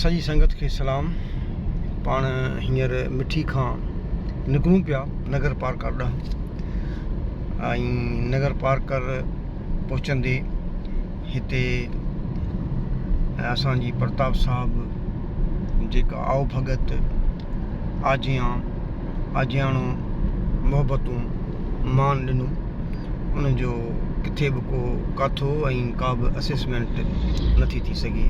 سڄي سنگت کي سلام پاڻ هينئر مٺي کان نڪرون پيا نگر پارڪر ڏانهن ۽ نگر پارڪر پهچندي هتي اسان جي پرتاب صاحب جيڪا آئو ڀڳت آجيان آجياڻو محبتون مان ڏنو ان جو ڪٿي به ڪو ڪاٿو ۽ ڪا به اسيسمينٽ نٿي ٿي سگهي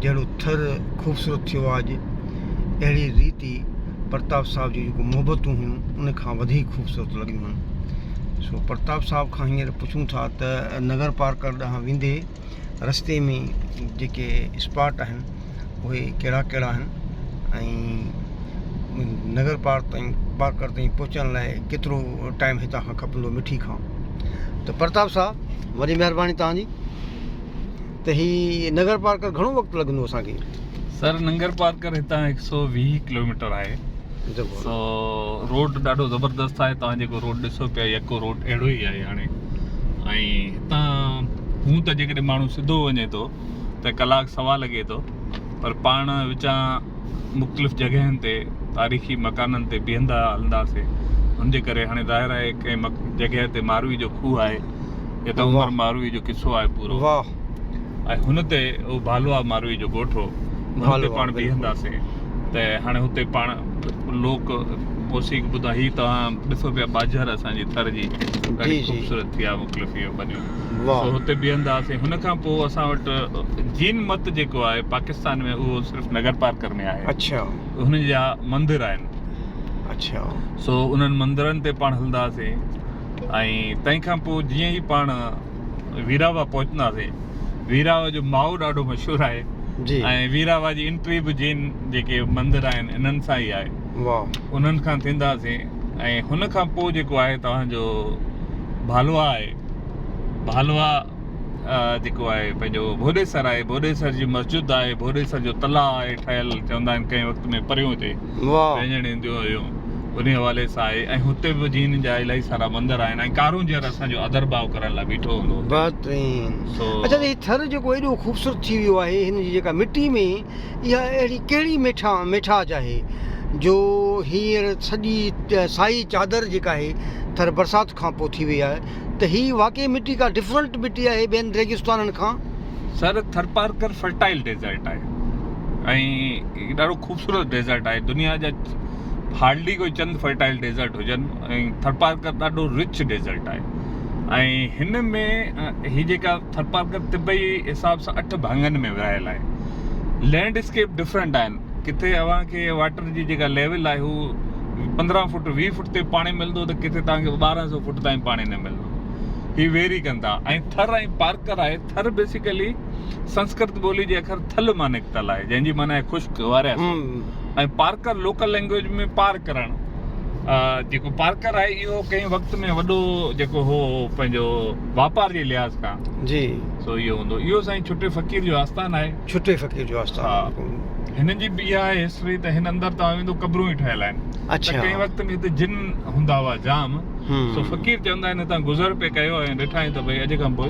جهڙو ٿر خوبصورت ٿيو آ اڄ اهڙي ريت ئي پرتاب صاحب جون جيڪو محبتون هيون ان کان وڌيڪ خوبصورت لڳيون هن سو پرتاب صاحب کان هينئر پڇون ٿا ته نگر پارڪر ڏانهن ويندي رستي ۾ جيڪي اسپاٽ آهن اهي ڪهڙا ڪهڙا آهن ۽ نگر پارڪ تائين پارڪر تائين پهچڻ لاء ڪيترو ٽائيم هتان کان کپندو مٺي کان ته پرتاب صاحب وڏي مهرباني تهانجي ته هي نگر پارڪر گهڻو وقت لڳندو اسانکي سر ننگر پارڪر هتان هڪ سو ويهه ڪلوميٽر آهي سو روڊ ڏاڍو زبردست آهي توهان جيڪو روڊ ڏسو پيا يڪو روڊ اهڙو ئي آهي هاڻي ۽ هتان هون ته جيڪڏهن ماڻهو سڌو وڃي ٿو ته ڪلاڪ سوا لڳي ٿو پر پاڻ وچان مختلف جڳهين تي تاريخي مڪانن تي بيهندا هلنداسي ان جي ڪري هاڻي ظاهر آهي ڪنهن جڳهه تي ماروي جو کوهه آهي هتان عمر ماروي جو قصو آهي پورو ۽ هن تي اهو ڀالوا ماروئي جو ڳوٺ هو هن تي پاڻ بيهنداسين ته هاڻي هتي پاڻ لوڪ موسيقي ٻڌان هي توهان ڏسو پيا ٻاجهر اسان جي ٿر جي ڏاڍي خوبصورت ٿي آهي مختلف اهي بنيون سو هتي بيهنداسين هن کان پوء اسان وٽ جين مت جيڪو آهي پاڪستان ۾ اهو صرف نگر پارڪر ۾ آهي اڇا هن جا مندر آهن اڇا سو انهن مندرن تي پاڻ هلنداسين ۽ تنهن کان پوء جيئن ئي پاڻ ويراوا پهچنداسي ويراوا جو ماهو ڏاڍو مشهور آهي جي ۽ ويراوا جي انٽري به جين جيڪي مندر آهن انهن سان ئي آهي واهه انهن کان ٿينداسي ۽ هن کان پوء جيڪو آهي توهان جو ڀالوا آهي ڀالوا جيڪو آهي پنهنجو ڀوڏيسر آهي ڀوڏيسر جي مسجد آهي ڀوڏيسر جو تلاء آهي ٺهيل چوندا آهن ڪنهن وقت ۾ پريون هتي وينجڻ اينديون هيون انهي حوالي سان آهي ۽ هتي به جين جا الاهي سارا مندر آهن ۽ ڪارونجهر اسان جو ادر ڀاء ڪرڻ لاء بيٺو هوندو هتي بهترين سو اچا هي ٿر جيڪو ايڏو خوبصورت ٿي ويو آهي هن جي جيڪا مٽي ۾ اها اهڙي ڪهڙي ميٺا ميٺاج آهي جو هينئر سڄي سائي چادر جيڪا آهي ٿر برسات کان پوء ٿي وئي آهي ته هي واقعي مٽي ڪا ڊفرنٽ مٽي آهي ٻين ريگستانن کان؟ سر ٿرپارڪر فرٽائل ڊيزرٽ آهي ۽ هڪ ڏاڍو خوبصورت ڊيزرٽ آهي دنيا جا هارڊلي ڪوئي چند فرٽائل ڊيزرٽ هجن ۽ ٿرپارڪر ڏاڍو رچ ڊيزرٽ آهي ۽ هن ۾ هي جيڪا ٿرپارڪر طبعي حساب سان اٺ ڀاڱن ۾ ورهايل آهي لينڊ اسڪيپ ڊفرنٽ آهن ڪٿي اوهان کي واٽر جي جيڪا ليول آهي هو پندرهن فوٽ ويهه فوٽ تي پاڻي ملندو ته ڪٿي توهان کي ٻارهن سو فوٽ تائين پاڻي نه ملندو هي ويري ڪندا ۽ ٿر ۽ پارڪر آهي ٿر بيسيڪلي سنسڪرت ٻولي جي اکر ٿل مان نڪتل آهي جنهن جي معنيٰ آهي خشڪ واريا سان ۽ پارڪر لوڪل لينگويج ۾ پار ڪرڻ جيڪو پارڪر آهي اهو ڪنهن وقت ۾ وڏو جيڪو هو پنهنجو واپار جي لحاظ کان جي سو اهو هوندو اهو سائين ڇٽي فقير جو آستان آهي ڇٽي فقير جو آستان هن جي به اها آهي هسٽري ته هن اندر توهان ويندو قبرون ئي ٺهيل آهن اڇا ته ڪنهن وقت ۾ هتي جن هوندا هئا جام سو فقير چوندا آهن هتان گذر پئي ڪيو ۽ ڏٺائين ته ڀئي اڄ کان پوء